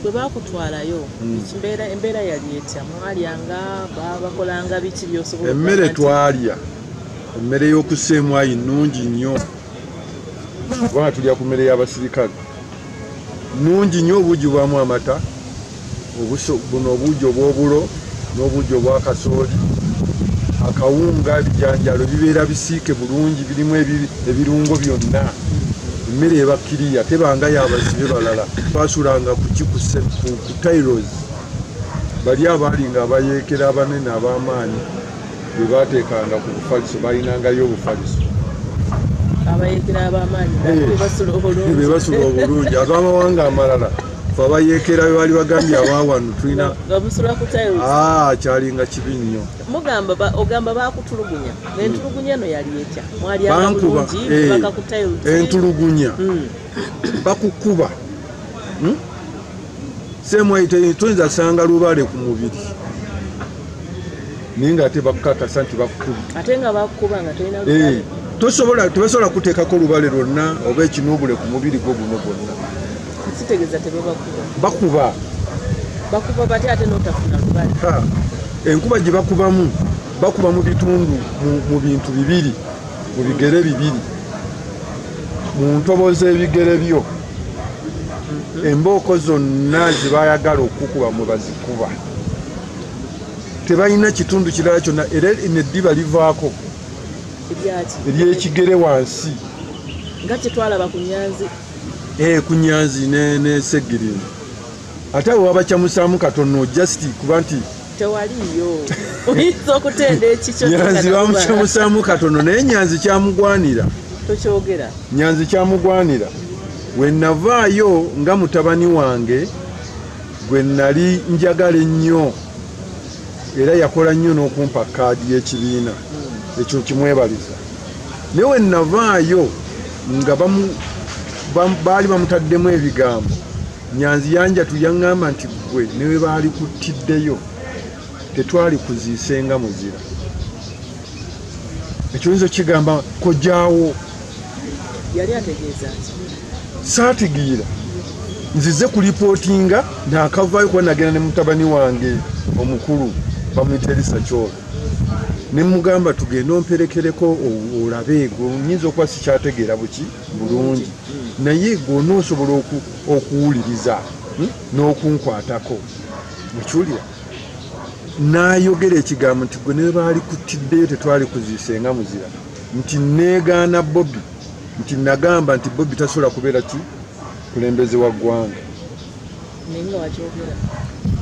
bwe bakutwalayo hmm. mbeera embeera yali etya mwalyanga babakolanga biki byosobola emmere twalya emmere y'okuseemwayi nnungi nnyo kubanga tulya ku mmere y'abasirikale nnungi nnyo obuugi bwamu amata buno obuugi obw'obulo n'obuugi obwa kasooli akawunga ebijanjalo bibeera bisiike bulungi birimu ebirungo byonna emmere ebakkiriya tebanga yabazibe balala twasulanga kukikuse ku tailos bali abaali nga abayeekera abanene ab'amaanyi be baateekanga ku bufaliso balinangayo obufaliso bebasula obulungi abamawanga amalala abayeekera be baali bagambye abaawano tulina ah, kyalinga kibi nnyo ogamba bakutulugunya entulugunya eno yali etya mwaliaankuba eh, entulugunya hmm. bakukuba hmm? semwaite tuyinza sanga lubale ku mubiri naye nga ate bakukakasa nti bakukuba eh, tosobola tebasobola kuteekako lubale lwonna oba ekinuubule ku mubiri gwo guno gwonna kitegeza tebabakuba bakuba bakuba bati ate notafuna lubali enkuba gye bakubamu bakuba mu bitundu mu bintu bibiri mu bigere bibiri mu ntobo z'ebigere byo mhm. embooko zonna ze bayagala okukuba mwe bazikuba tebalina kitundu kirala kyonna era neddiba livaako eryekigere wansi nga kyetwalaba ku nyanzi eh, ku nyanzi ne, ne segirino ate awo wabacamusaamu katono just kuba nti tewaliyo oyinza okutenda ekikyo nyanzi bamucamusaamu katono naye nyanzi kyamugwanira tokyogera nyanzi kyamugwanira wenavaayo nga mutabani wange gwe nali njagala ennyo era yakola nnyo n'okumpa kaadi y'ekibiina ekyo kimwebaliza naye we navaayo nga baali bamutaddemu ebigambo nyanzi yanja tuyaŋŋamba nti ggwe newe baali kuttiddeyo tetwali kuziisenga muzira ekiwinza okigamba kojaawo yali ategeeza ki saategeera nzize ku lipootinga naakavaayo kuba nagenda ne mutabani wange omukulu bamuyita erisa kyola ne mugamba tugende omperekereko olabe egwe nyinza okuba sikyategeera buki bulungi naye egwe onoosobola okuwuliriza hmm, n'okunkwatako mukiwulira n'ayogera ekigambo nti gwe newe baali kutiddeyo tetwali kuziise nga muzira nti negaana bobi nti nagamba nti bobi tasobola kubeera ki kulembeze wa ggwanga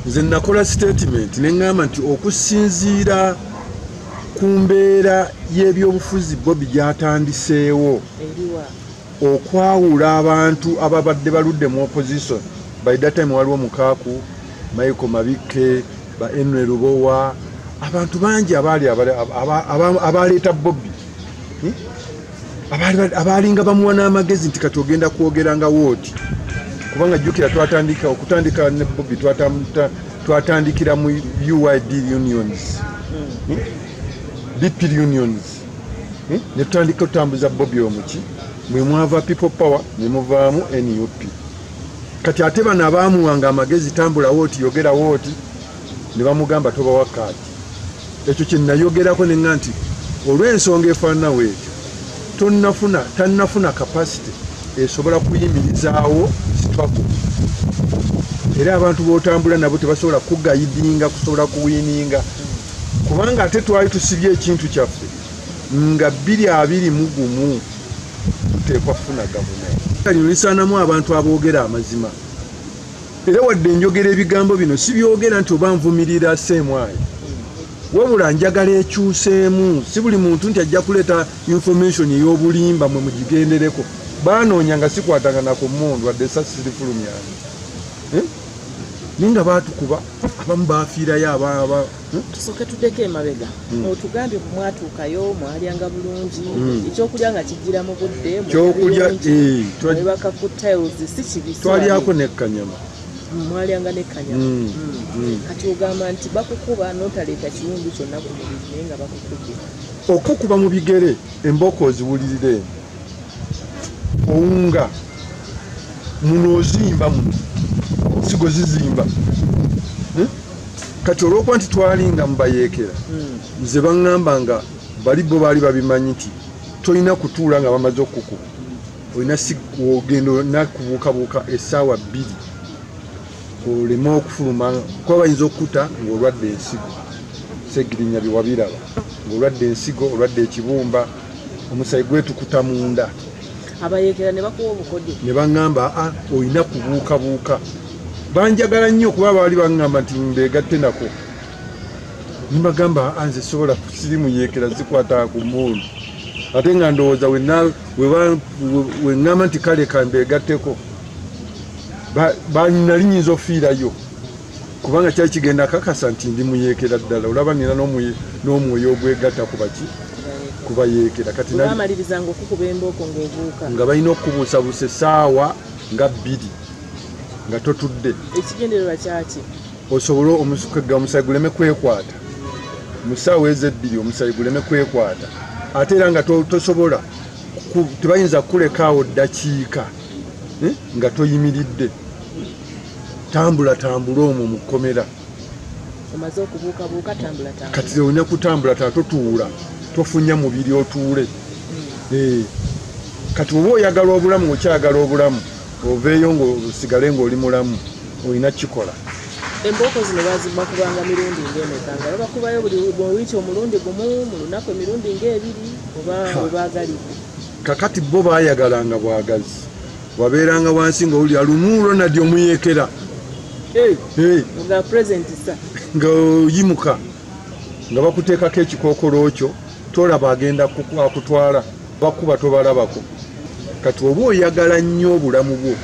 nze nakola statement neŋgamba nti okusinziira ku mbeera y'ebyobufuzi bobi gyatandiseewo okwawula abantu ababadde baludde mu opposition by that time waliwo mukaaku michael mabikke ba enry lubowa abantu bangi abaali abaleeta bobi hmm? abaalinga bamuwa n'amagezi nti kati ogenda kwogera nga wooti kubanga jjukira twatandika okutandika ne bobi twatandikira mu uid unions hmm? Hmm? bpl unions eh, ne tutandika otambuza bobi omuki mwe mwava people power ne muvaamu nup kati ate bano abaamuwanga amagezi tambulawo oti yogerawo oti ne bamugamba tobawa kaati ekyo kye nayogerako ne nga nti olw'ensonga efaananawo ekyo tonnafuna tannafuna kapasite esobola kuyimirizaawo struggle era abantu b'otambula nabo tebasobola kugayidinga kusobola kuwininga kubanga ate twali tusibye ekintu kyaffe nga bbiri abiri mu gumu tuteekwa kufuna gavumenti lino lisaanamu abantu aboogera amazima era wadde enjogera ebigambo bino sibyogera nti oba nvumirira seemwayo wabula njagala ekyuseemu si buli muntu nti ajja kuleeta information ey'obulimba mwe mugigendereko baanoonya nga sikwatangana ku mundu wadde esasi sirifulumyani eh? naye nga baatukuba abamu bafiirayo ababa hmm? tusooke tuddeko emabega hmm. otugambye ku mwatuukayo mwalyanga bulungi hmm. ekyokulya nga kijjira mu budde kyokulya ebaka eh, ku tiles si kibi twalyako nekkanyama mwalyanga nekkanyama kati ogamba nti bakukuba notaleeta kiwundu kyonna ku mubiri naye nga bakukubye okukuba mu bigere embooko oziwulirire eno owunga muno ozimba muno sigo zizimba hmm? kati olwokuba nti twalinga mubayeekera hmm. nze baŋŋamba nga bali bo baali babimanyi nti tolina kutuula nga bamaze okukuba olina ogenda nakubuukabuuka esaawa bbiri oleme okufuluma kuba bayinza okukuta ngaolwadde ensigo segirinya byewabiraba ngaolwadde ensigo olwadde ekibumba omusayi gwetukuta munda abayekera ne bakuwa obukodyo ne baŋŋamba a ah, olina kubuukabuuka banjagala nnyo kuba baali baŋŋamba nti mbeegatte nako nibagamba a ah, nze sobola kusirimu yeekera zikwata ku muulu ate nga ndowooza weŋŋamba nti kale kambeegatteko nali nyinza ofiirayo kubanga kyali kigenda akakasa nti ndi muyeekera ddala olaba nina n'omwoyo ogwegatta ku baki kubayeekera kati nga balina okukubuusabuusa essaawa nga bbiri nga totudde ekigendererwa kyaki osobole omusukaga omusayi guleme kwekwata mu ssaawa ezo ebbiri omusayi guleme kwekwata ate era nga tosobola tebayinza kukulekaawo ddakiika eh, nga toyimiridde tambula tambula omwo mu kkomera kati olina kutambula ta totuula tofunya mubiri otuule hmm. eh, kati oba oyagala obulamu okyagala obulamu oveeyo ngaosigale ngaoli mulamu olina kikola embooko zino bazimba kubanga mirundi ngaemeka nga babakubayo buli muwiiki omulundi gumu mu lunaku emirundi ngaebiri oba webagalire kakati bo bayagalanga bwagazi wabeeranga wansi ng'owulira lumu ronald omuyeekera nga oyimuka nga bakuteekako ekikookolo kyo tolaba agenda akutwala bakuba tobalabako kati oba oyagala nnyo obulamu bwo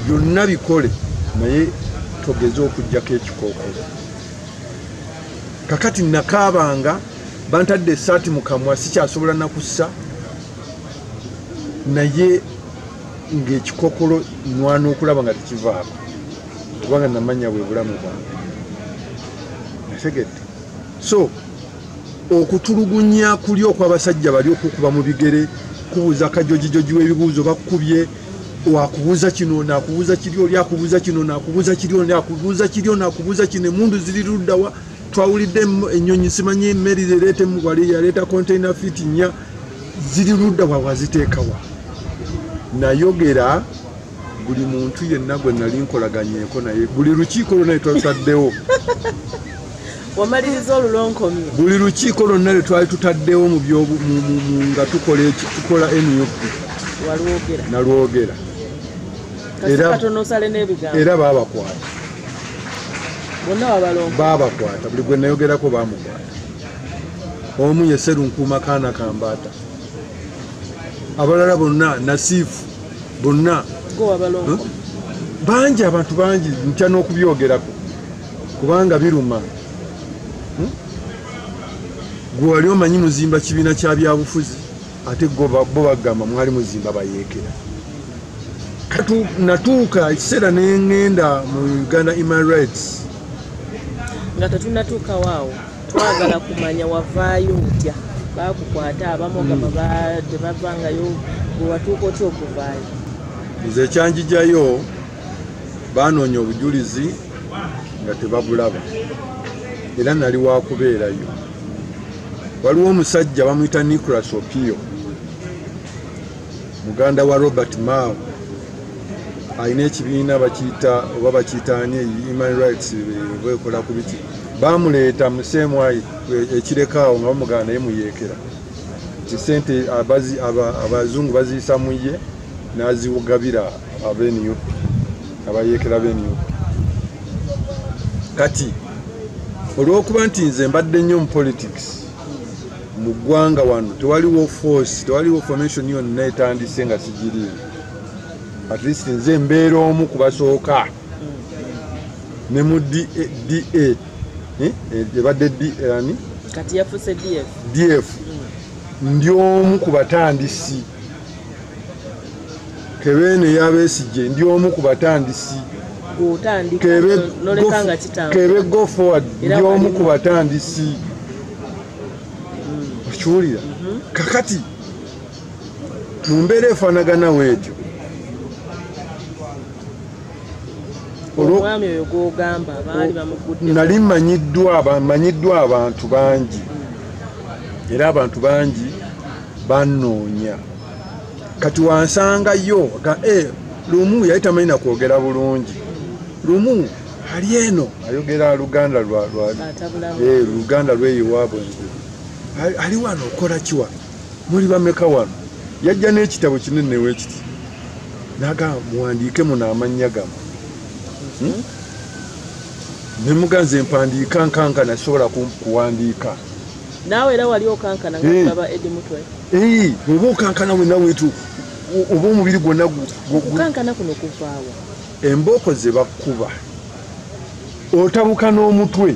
byonna bikole naye togeze okugjako ekikookolo kakati nakaabanga bantadde esaati mu kamwa sikyasobola nakussa naye ng'ekikokolo nwana okulaba nga tekivaako kubanga namanya bwe bulamu bwange ategedde so okutulugunya kuli okw'abasajja bali okukuba mu bigere kubuuza kajojijoji w'ebibuuzo bakukubye wakubuuza kino nakubuuza kiri oli akubuuza kino nakubuuza kiri oli akubuuza kiri oli akubuuza kino emundu ziri luddawa twawulidde ennyonyi simanyi emmeri ereeta emugwali yaleeta container fit nnya ziri ludda wa waziteekawa nayogera buli muntu yenna gwe nali nkolaganyeko naye buli lukiiko lwona lwetwatutaddewo wamaliriza olulonkomye buli lukiiko lwonna lwe twali tutaddewo nga tukola nup nalwogera era babakwata babakwata buli gwe nayogerako bamukwata omu ye serunkuuma kaana kambaata abalala bonna nasiifu bonna bangi abantu bangi ntya n'okubyogerako kubanga biruma hmm? gwe wali omanyi muzimba kibiina kya byabufuzi ate bo bagamba mwali muzimba bayeekera natuuka ekiseera nengenda mu uganda human rights nga tetunatuukawo awo twagala kumanya wavaayo otya bakukwata abamu ogamba hmm. tebavangayo bwewatuuka otya okuvaayo nze ekyanjijayo banoonya obujulizi nga tebabulaba era nali wakubeerayo waliwo omusajja bamuyita nicolas opio muganda wa robert mao alina ekibiina bakiyita oba bakiyita ani human rights bekola ku biki bamuleeta mu semwayi ekirekaawo nga bamugana naye muyeekera nti sente abazungu baziyisa mu ye naziwugabira abenup abayeekera benup kati olwokuba nti nze mbadde nnyo mu politics mu ggwanga wano tewaliwo force tewaliwo formation yonna etandise nga sigiriimu at least nze mbeera omu ku basooka ne mu da eh, eh, ebadde dani kati yafuse df df ndi omu ku batandisi kebe ne yabesigye ndi omu ku batandisi kebe go forward ndi omu ku batandisi mm. okiwulira mm-hmm. kakati mu mbeera efaanagana weetyo omwami oyo gwogamba baali bamugudde nali manyiddwa manyiddwa abantu bangi era abantu bangi bannoonya kati wansangayo ga e eh, lumu yali tamanyi na kwogera bulungi lumu ali eno ayogera luganda lwa lwa eh, luganda lweyo waabwe ali wano okola kiwa muli bameka wano yajja n'ekitabo kinene wekiti naga muwandiike muno amannya gamu hmm? ne muganze mpandiika nkanka nasobola kuwandiika naawe era wali okankana ngaaba edi mutwe oba okankana wena wetu oba omubiri gwonna gukankana kuno kuvaawa embooko ze bakkuba otabuka n'omutwe